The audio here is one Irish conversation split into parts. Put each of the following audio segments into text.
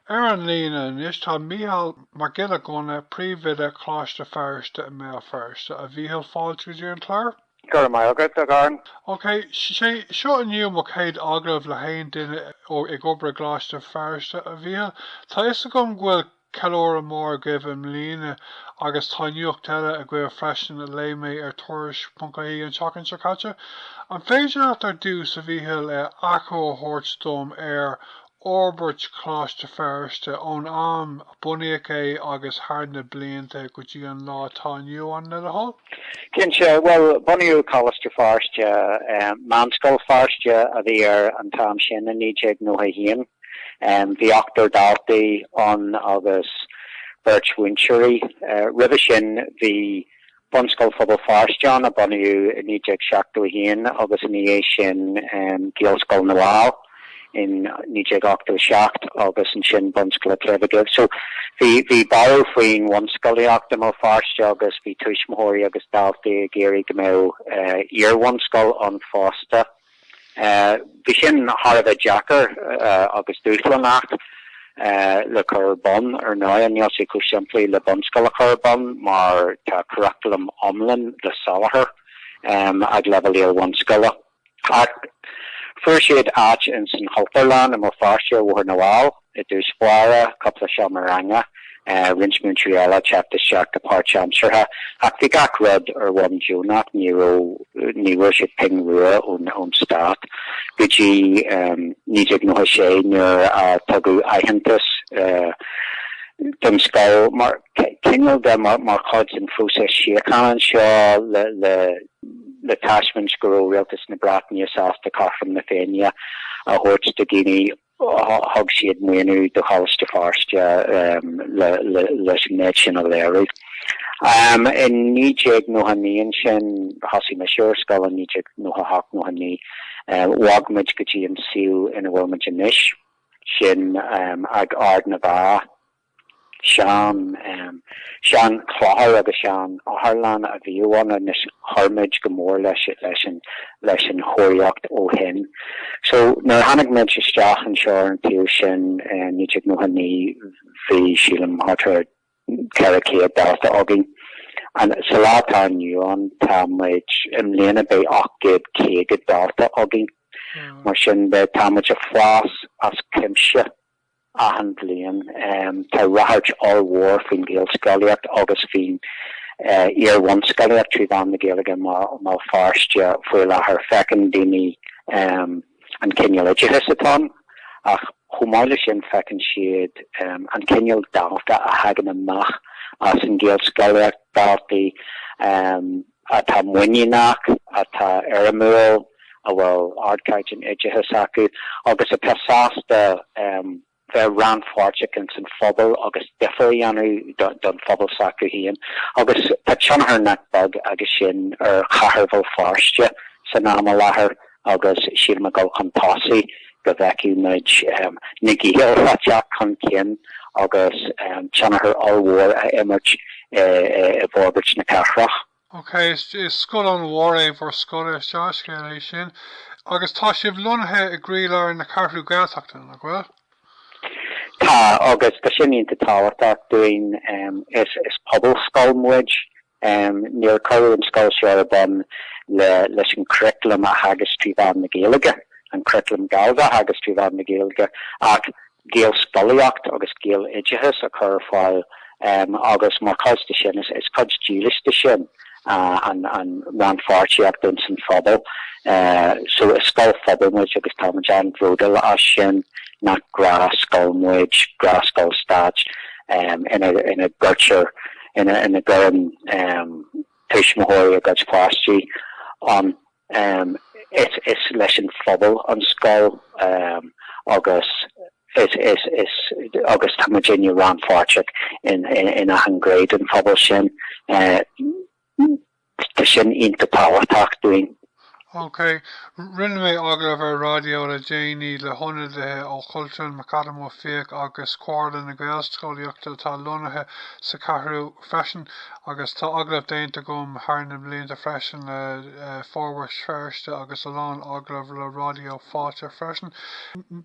Ar an líne anois tá Mícheál Mac Giolla Ghunna, Príomhoide Choláiste Feirste i mBéal Feirste. A Mhícheal, fáilte go dtí an clár. Go raibh maith agat, a Dharren. Ok, sé seo inniu mo chéad agallamh le haon duine ag obair i gColáiste Feirste, a Mhícheal. Tá fhios agam go bhfuil ceiliúradh mór agaibh i mbliana agus tá nuacht eile agaibh freisin a léigh mé ar Tuairisc.ie an tseachtain seo caite. An féidir leat ar dtús, a Mhícheal, achoimre a thabhairt dom ar fhorbairt Choláiste Feirste ón am a bunaíodh é agus thar na blianta go dtí an lá atá inniu ann le do thoil? Cinnte, bhuel, bunaíodh Coláiste Feirste, Meánscoil Feirste a bhí air an t-am sin, i 1991. Bhí ochtar daltaí ann agus beirt mhúinteoirí. Roimhe sin bhí Bunscoil Phobal Feirste ann, a bunaíodh i 1971 agus ina dhiaidh sin Gaelscoil na bhFál in 1987 agus ansin Bunscoil an tSléibhe Dhuibh. So bhí borradh faoin bhunscolaíocht i mBéal Feirste agus bhí tuismitheoirí agus daltaí ag iarraidh go mbeadh iarbhunscoil ann fosta. Bhí sin thar a bheith deacair agus dúshlánach le cur ar bun. Ar ndóigh, níl sé chomh simplí le bunscoil a chur ar bun mar tá curaclam iomlán le soláthar ag leibhéal iar-bhunscoile. Ach fuair siad áit ins an Chultúrlann i mBéal Feirste ar Bhóthar na bhFál. I dtús báire, cúpla seomra ranga, roinnt múinteoirí eile ag teacht isteach go páirt-aimseartha. Ach bhí gach rud ar bhonn deonach, ní raibh ní bhfuair siad pingin rua ón stát go dtí 1996 nuair a tugadh aitheantas don scoil mar chineál de mar chuid den phróiseas síochána anseo le taispeáint go raibh rialtas na Breataine sásta cothrom na Féinne a thabhairt do dhaoine Thug siad maoiniú do Choláiste Feirste leis an méid sin a léiriú. I naoi déag nócha naoi ansin, thosaigh mise ar an scoil i naoi déag nócha hocht nócha naoi, bhog muid go dtí an suíomh ina bhfuil muid anois, sin ag Ard na bhFeá. Sean, seanchlochar agus seanotharlann a bhíodh ann. Anois chuir muid go mór leis leis an leis an chóiríocht ó shin. So, nuair a tháinig muid isteach anseo ar an tsuíomh sin i 1999 bhí, sílim, thart ar 400 dalta againn. Ins an lá atá inniu ann tá muid, i mbliana beidh 850 dalta againn. Mar sin de, tá muid ag fás as cuimse. Achan bhliain tá ráchairt ollmhór faoin Ghaelscolaíocht agus faoin iar-bhunscolaíocht trí mheán na Gaeilge i mBéal Feirste faoi láthair. Feiceann daoine an cineál oideachais atá ann ach chomh maith leis sin feiceann siad an cineál dalta a thagann amach as an Ghaelscolaíocht, daltaí. atá muiníneach, atá éirimiúil, a bhfuil ardchaighdeán oideachais acu agus atá sásta bheith rannpháirteach ins an phobal agus difear a dhéanamh don phobal s'acu féin. Agus tá tionchar nach beag aige sin ar chathair Bhéal Feirste san am i láthair. agus sílim ag dul chun tosaigh go bhfeicfidh muid na Gaeil ag teacht chun cinn agus tionchar ollmhór a imirt i bhforbairt na cathrach. Ok, is scoil an-mhór é bhur scoil, is dea-scéal é sin. Agus tá sibh lonnaithe i gcroílár na Ceathrú Gaeltachta, nach bhfuil? Tá, agus tá sin iontach tábhachtach dúinn. Is pobalscoil muid, Em, níor cuireadh an scoil seo ar bun le, leis an churriculum a theagasc trí mheán na Gaeilge, an curriculum Gallda a theagasc trí mheán na Gaeilge, ach Gaelscolaíocht agus Gaeloideachas a chur ar fáil, em, agus mar chuid de sin, is, is cuid dílis de sin, ah, an, an rannpháirtíocht ins an phobal. Eh, so is scoil phobail muid agus táimid an-bhróduil as sin, nach gnáthscoil muid, gnáthscoil stáit, em, ina, ina gcuirtear, ina gcuireann tuismitheoirí a gcuid páistí ann. Is leis an phobal an scoil agus agus tá muidinne rannpháirteach in achan gné den phobal sin. Tá sin iontach tábhachtach dúinn. OK. Rinne mé agallamh ar raidió le déanaí le hionadaithe ó Chultúrlann McAdam Ó Fiaich agus Comhairle na Gaelscolaíochta atá lonnaithe sa Cheathrú freisin agus tá agallamh déanta agam thar na blianta freisin le Forbairt Feirste agus a lán agallamh le Raidió Fáilte freisin.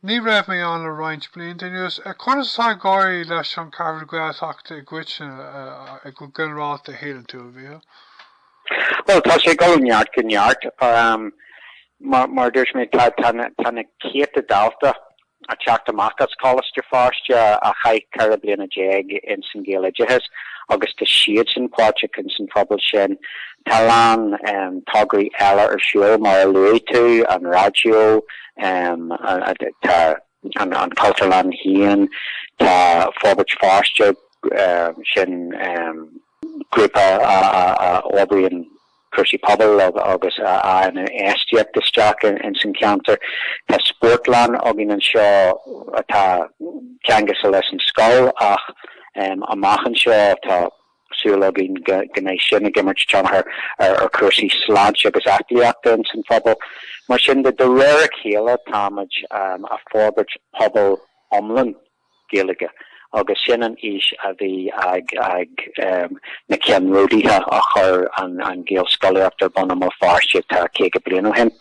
Ní raibh mé ann le roinnt blianta anuas. Conas atá ag éirí leis an Cheathrú Gaeltachta i gcoitinne, go ginearálta, a shíleann tú? Bhuel, tá sé ag dul ó neart go neart. Mar a dúirt mé, tá na céadta dalta ag teacht amach as Coláiste Feirste a chaith ceithre bliana déag ins an Ghaeloideachas agus tá siadsan páirteach ins an phobal sin. Tá a lán tograí eile ar siúl, mar a luaigh tú, an raidió, tá an Cultúrlann féin, tá Forbairt Feirste, sin grúpa a oibríonn cúrsaí pobail agus a fhaigheann infheistíocht isteach ins an cheantar. Tá spórtlann againn anseo atá ceangailte leis an scoil ach amach anseo tá súil againn go mbeidh sin ag imirt tionchar ar chúrsaí sláinte agus aclaíochta ins an phobal. Mar sin de, de réir a chéile táimid a' forbairt pobal iomlán. Gaeilge agus sin an fhís a bhí ag na ceannródaithe a chuir an Ghaelscolaíocht ar bun i mBéal Feirste tá 50 bliain ó shin.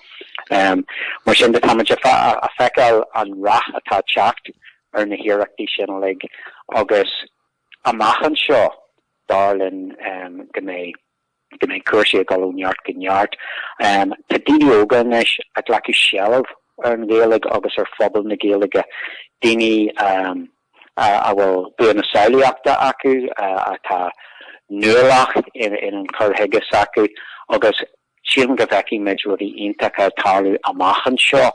Mar sin de táimid a' feiceáil an rath atá a' teacht ar na hiarrachtaí sin uilig agus amach anseo dar linn go mbeidh. go mbeidh cúrsaí ag dul ó neart go neart. Tá daoine óga anois ag glacadh seilbh ar an Ghaeilge agus ar phobal na Gaeilge, daoine a bhfuil bua na samhlaíochta acu, atá nuálach in an chur chuige s'acu agus sílim go bhfeicfidh muid rudaí iontacha ag tarlú amach anseo.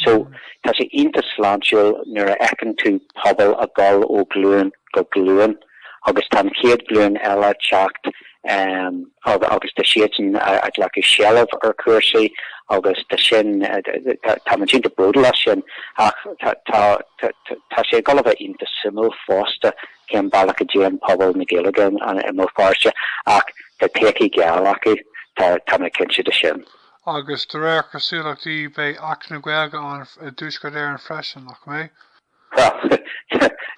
So, tá sé iontach sláintiúil nuair a fheiceann tú pobal ag dul ó ghlúin go glúin. agus tá an chéad ghlúin eile ag teacht agus tá siadsan ag glacadh seilbh ar chúrsaí agus tá sin táimid cinnte bródúil as sin ach tá tá sé ag gabháil a bheith iontach suimiúil fosta cén bealach a dtéann pobal na Gaeilge i mBéal Feirste ach tá todhchaí gheal acu tá tá mé cinnte de sin. Agus de réir cosúlachtaí beidh Acht na Gaeilge ann i dtuaisceart Éireann freisin, nach mbeidh? Bhuel,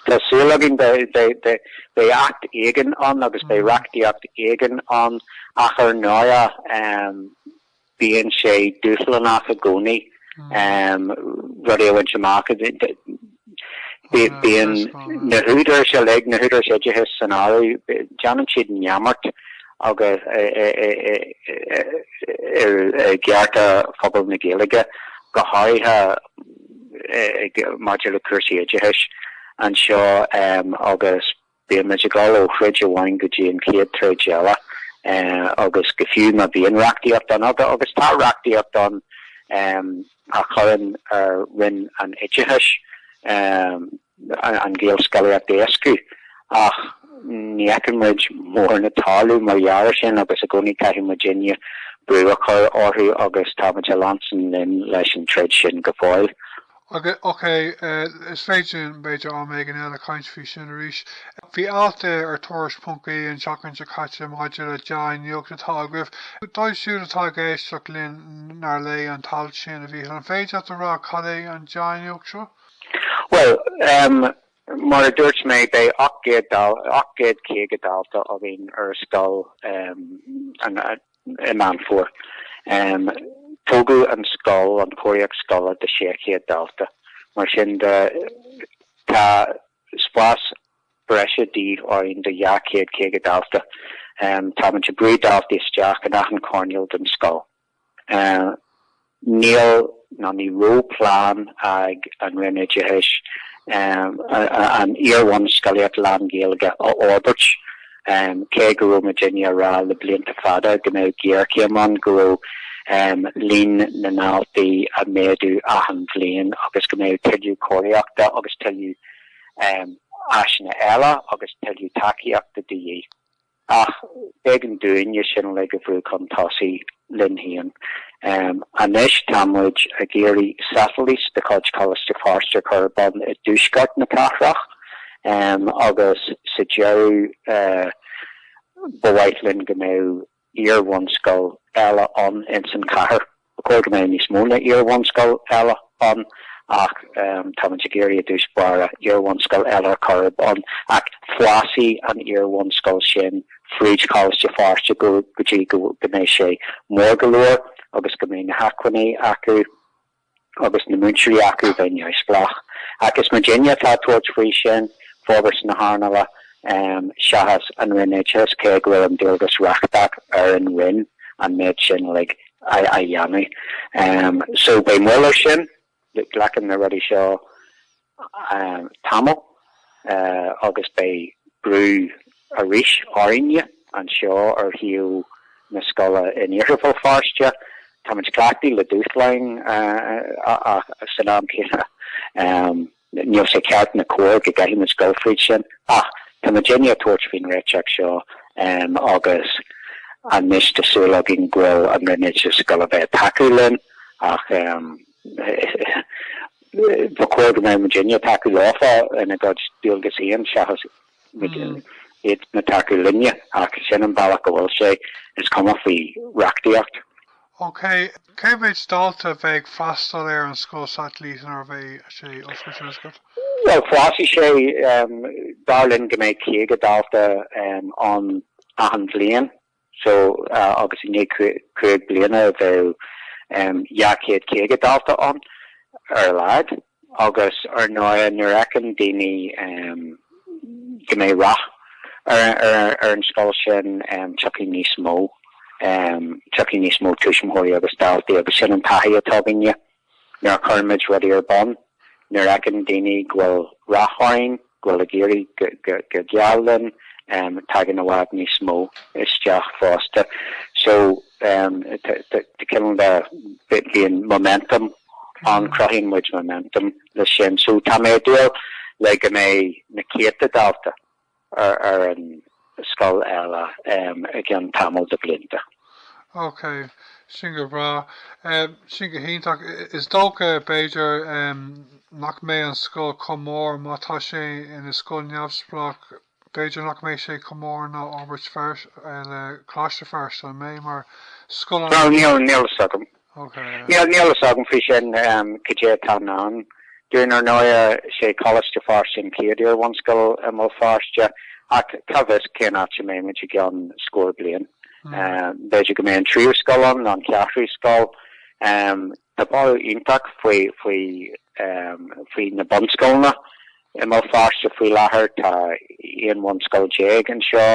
tá súil againn, beidh acht éigin ann agus beidh reachtaíocht éigin ann ach ar ndóigh bíonn sé dúshlánach i gcónaí rudaí a bhaint amach. Bíonn na húdaráis uilig, na húdaráis oideachais san áireamh, déanann siad neamart agus i gcearta phobal na Gaeilge, go háirithe maidir le cúrsaí oideachais anseo agus bíonn muid ag dul ó throid amháin go dtí an chéad troid eile agus go fiú má bhíonn reachtaíocht ann agus tá reachtaíocht ann a chuireann ar roinn an oideachais an Ghaelscolaíocht a éascú ach ní fheiceann muid mórán ag tarlú mar gheall ar sin agus i gcónaí caithfidh muidinne brú a chur orthu agus tá muid ag leanstan linn leis an troid sin go fóill. Ok, is féidir linn b'fhéidir am éigin eile caint faoi sin arís. Bhí alt ar ar Tuairisc ponc ie an tseachtain seo caite maidir le dea-nuacht atá agaibh. Dóibh siúd atá ag éisteacht linn nár léigh an t-alt sin, a Mhíchil, an féidir leat a rá cad é an dea-nuacht seo? Bhuel, mar a dúirt mé, beidh 800, 850 dalta againn ar scoil i Meán Fómhair. Tógadh an scoil, an chóiríocht scoile do 600 dalta, mar sin de tá spás breise de dhíth orainn do 250 dalta. Táimidinne ag brú daltaí isteach in achan coirnéal den scoil. Níl ná ní raibh plean ag an Roinn Oideachais an iar-bhunscolaíocht lán-Ghaeilge a fhorbairt, cé go raibh muidinne ag rá le blianta fada go mbeadh géarchéim ann, go raibh líon na ndaltaí ag méadú achan bhliain agus go mbeadh tuilleadh cóiríochta agus tuilleadh áiseanna eile agus tuilleadh tacaíochta de dhíth. Ach b'éigean dúinne sin uilig a bhrú chun tosaigh linn féin. Anois tá muid ag iarraidh satailít de chuid Choláiste Feirste a chur ar bun i dtuaisceart na cathrach agus sa deireadh ba mhaith linn go mbeadh iarbhunscoil eile ann insan chathair. Ba chóir go mbeadh níos mó ná iarbhunscoil eile ann ach táimid ag iarraidh i dtús báire iarbhunscoil eile a chur ar bun ach fásfaidh an iarbhunscoil sin fríd Choláiste Feirste go dtí go mbeidh sé mór go leor agus go mbeidh na hacmhainní acu agus na múinteoirí acu bheith neamhspleách. Ach is muidinne atá ag tabhairt faoi sin, forbairt na hearnála, seachas an Roinn Oideachais, cé go bhfuil an dualgas reachtach ar an Roinn an méid sin uilig a dhéanamh. So beidh moill ar sin. Glacann na rudaí seo tamall agus beidh brú arís orainne anseo ar shuíomh na scoile in Iarthar Bhéal Feirste. Táimid cleachtaithe le dúshláin ach san am céanna. Níl sé ceart ná cóir go gcaithfidh muid dul fríd sin ach tá muidinne ag tabhairt faoin réiteach seo agus anois tá súil againn go bhfuil an Roinn Oideachais ag gabháil a bheith ag tacú linn ach ba chóir go mbeadh muidinne ag tacú leofa ina gcuid dualgasaí seachas iadsan ag tacú linne ach sin an bealach a bhfuil sé, is cuma faoi reachtaíocht. OK, cé mhéid dalta a bheidh ag freastal ar an scoil satailíte nuair a bheidh sé oscailte, an scoil? Bhuel, fásfaidh sé, dar linn go mbeidh 50 dalta ann achan bhliain. so agus i ndiaidh cúig bliana beidh 250 dalta ann ar a laghad agus ar ndóigh nuair a fheiceann daoine go mbeidh rath ar an scoil sin tiocfaidh níos mó, tiocfaidh níos mó tuismitheoirí agus daltaí agus sin an taithí atá againne. Nuair a chuireann muid rudaí ar bun, nuair a fheiceann daoine go bhfuil rath orainn, go bhfuil ag éirí go geal linn, tagann i bhfad níos mó isteach fosta. So, bíonn momentum ann, cruthaíonn muid momentum leis sin. So, tá mé ag dúil le go mbeidh na céadta dalta ar an scoil eile i gcionn tamall de bhlianta. Ok, sin go breá. Sin go hiontach. Is dócha, b'fhéidir, nach mbeidh an scoil chomh mór, má tá sé ina scoil neamhspleách, b'fhéidir nach mbeidh sé chomh mór ná Forbairt Feirste, le Coláiste Feirste, an mbeidh, mar scoil an? Bhuel, níl a fhios agam. Níl a fhios agam faoi sin cad é atá i ndán dúinn. Ar ndóigh, sé Coláiste Feirste an chéad iarbhunscoil i mBéal Feirste ach cá bhfios cén áit a mbeimid i gceann scór bliain. B'fhéidir go mbeidh an tríú scoil ann nó an cheathrú scoil. Tá borradh iontach faoi faoi faoi na bunscoileanna I mBéal Feirste faoi láthair tá aon bhunscoil déag anseo.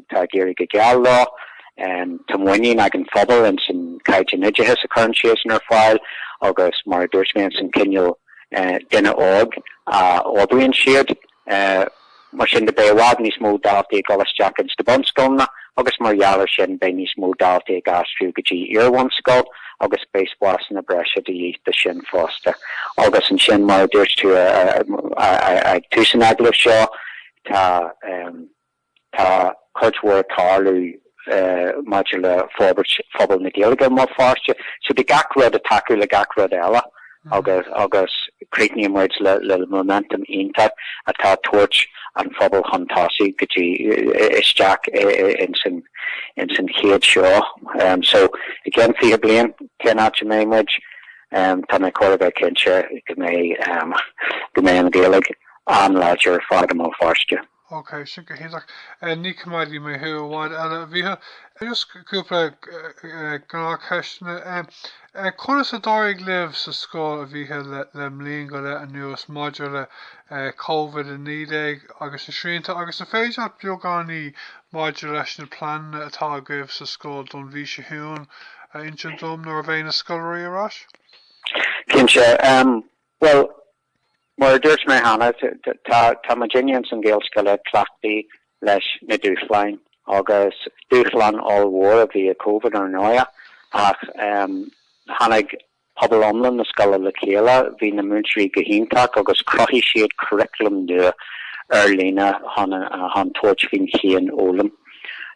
Tá ag éirí go geal leo. Tá muinín ag an phobal ins an caighdeán oideachais a chuireann siadsan ar fáil agus mar a dúirt mé ins an cineál duine óg a fhorbraíonn siad. Mar sin de beidh i bhfad níos mó daltaí ag dul isteach ins na bunscoileanna agus mar gheall ar sin beidh níos mó daltaí ag aistriú go dtí iarbhunscoil. agus beidh spásanna breise de dhíth dó sin fosta. Agus ansin, mar a dúirt tú ag tús an agallaimh seo, tá tá cuid mhór ag tarlú maidir le forbairt phobal na Gaeilge i mBéal Feirste, so beidh gach rud ag tacú le gach rud eile. agus cruthaíonn muid le momentum iontach atá ag tabhairt an phobail chun tosaigh go dtí isteach ins an chéad seo. So, i gceann fiche bliain, cén áit a mbeidh muid? Tá mé chóir a bheith cinnte go mbeidh an Ghaeilge an-láidir ar fad i mBéal Feirste. OK, sin go hiontach. Ní choimeádfaidh mé thú i bhfad eile, a Mhíchil. Just cúpla gnáthcheisteanna. Conas a d'éirigh libh sa scoil, a Mhíchil, le bliain go leith anuas maidir le Covid-19 agus na srianta agus an féidir leat beagáinín maidir leis na pleananna atá agaibh sa scoil don mhí seo chugainn a insint dom nuair a bheidh na scoláirí ar ais? Cinnte. Bhuel, Mar a dúirt mé cheana, tá muid in earnáil na Gaelscoile cleachtaithe leis na dúshláin agus dúshlán ollmhór a bhí i Covid ar ndóigh ach tháinig pobal iomlán na scoile le chéile, bhí na múinteoirí go hiontach agus chruthaigh siad curriculum nua ar líne chun tabhairt faoin chianfhoghlaim.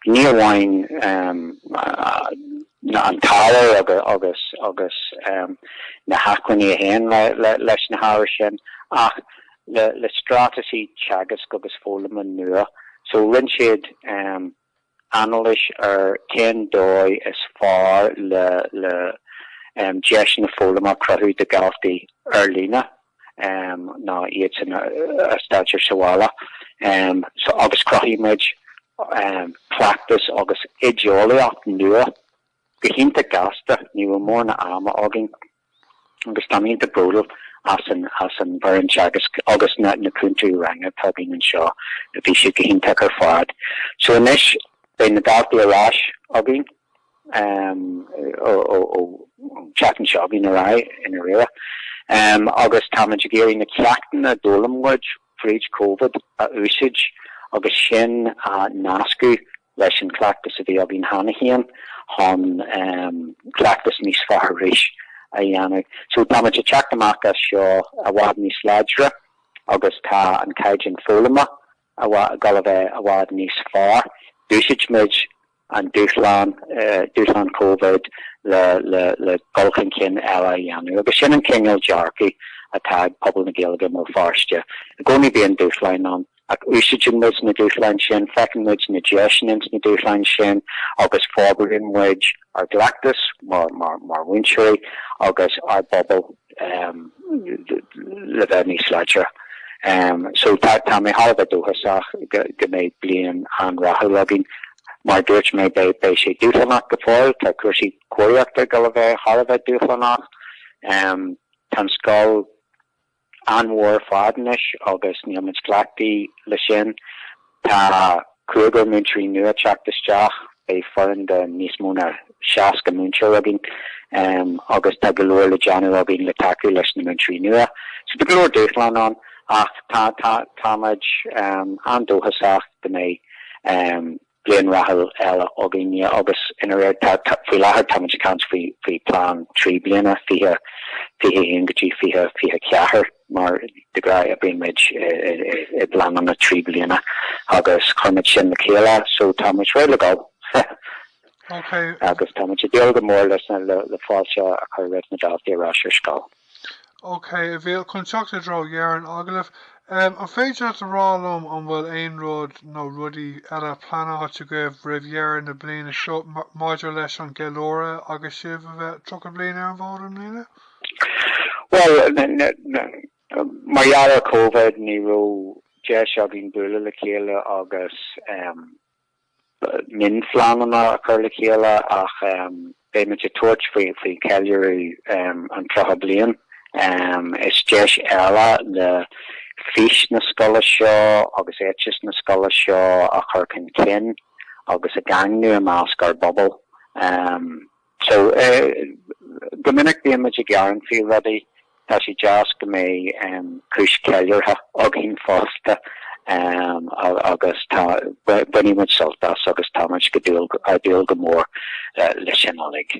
Ní amháin an t-ábhar agus na hacmhainní a théann leis na hábhair sin ach le straitéisí teagaisc agus foghlama nua. So rinne siad anailís ar cén dóigh is fearr le deiseanna foghlama a chruthú do dhaltaí ar líne. ná iad ina dteach ar shábháilte agus cruthaigh muid cleachtas agus oideolaíocht nua go hiontach gasta. Ní raibh mórán ama againn agus táim iontach bródúil as an bhfoireann teagaisc agus na cúntóirí ranga atá againn anseo, bhí siad go hiontach ar fad. So anois beidh na daltaí ar ais againn an tseachtain seo chugainn de réir a chéile agus táimid ag iarraidh na ceachtanna d'fhoghlaim muid fríd Covid a úsaid agus sin a nascadh leis an chleachtas a bhí againn cheana féin chun cleachtas níos fearr arís a dhéanamh. So táimid ag teacht amach as seo i bhfad níos láidre agus tá an caighdeán foghlama ag dul a bheith i bhfad níos fearr. D'úsaid muid an dúshlán, dúshlán Covid le, le, le dul chun cinn eile a dhéanamh agus sin an cineál dearcaidh atá ag pobal na Gaeilge i mBéal Feirste. I gcónaí bíonn dúshláin ann ach úsáideann muid na dúshláin sin, feiceann muid na deiseanna ins na dúshláin sin agus forbraíonn muid ár gcleachtas mar, mar, mar mhúinteoirí agus ár bpobal. le bheith níos láidre. So tá mé thar a bheith dóchasach go mbeidh bliain an-rathúil againn. Mar a dúirt mé, beidh sé dúshlánach go fóill. Tá cúrsaí cóiríochta ag dul a bheith thar a bheith dúshlánach. Tá an scoil an-mhór ar fad anois agus níl muid cleachtaithe leis sin. Tá cúigear múinteoirí nua ag teacht isteach, beidh foireann de níos mó ná 60 múinteoir againn agus tá go leor le déanamh againn le tacú leis na múinteoirí nua. So tá go leor dúshláin ann ach táimid an-dóchasach go mbeidh bliain rathúil eile againn agus ina raibh, faoi láthair táimid ag caint faoi phlean trí bliana, 2021-2024. Mar de ghnáth bímid i bpleananna trí bliana agus cuirimid sin le chéile so táimid réidh le dul. Ok. Agus táimid ag dúil go mór leis, le fáilte a chur roimh na daltaí ar ais ar scoil. Ok, a Mhíchíl, chun teacht i dtreo dheireadh an agallaimh, an féidir leat a rá liom an bhfuil aon rud nó rudaí eile pleanáilte agaibh roimh dheireadh na bliana seo maidir leis an gceiliúradh agus sibh a bheith 30 bliain ar an bhfód i mbliana? Bhuel, mar gheall ar Covid ní raibh deis againn bualadh le chéile agus mionphleananna a chur le chéile ach beidh muid ag tabhairt faoi cheiliúradh an 30 bliain. Is deis eile le fís na scoile seo agus éiteas na scoile seo a chur chun cinn agus a dhaingniú i measc ár bpobal. So, go minic bíonn muid ag gearán faoi rudaí, tá sé deas go mbeidh cúis cheiliúrtha againn fosta agus tá, bainfidh muid sult as agus tá muid ag dúil go mór leis sin uilig.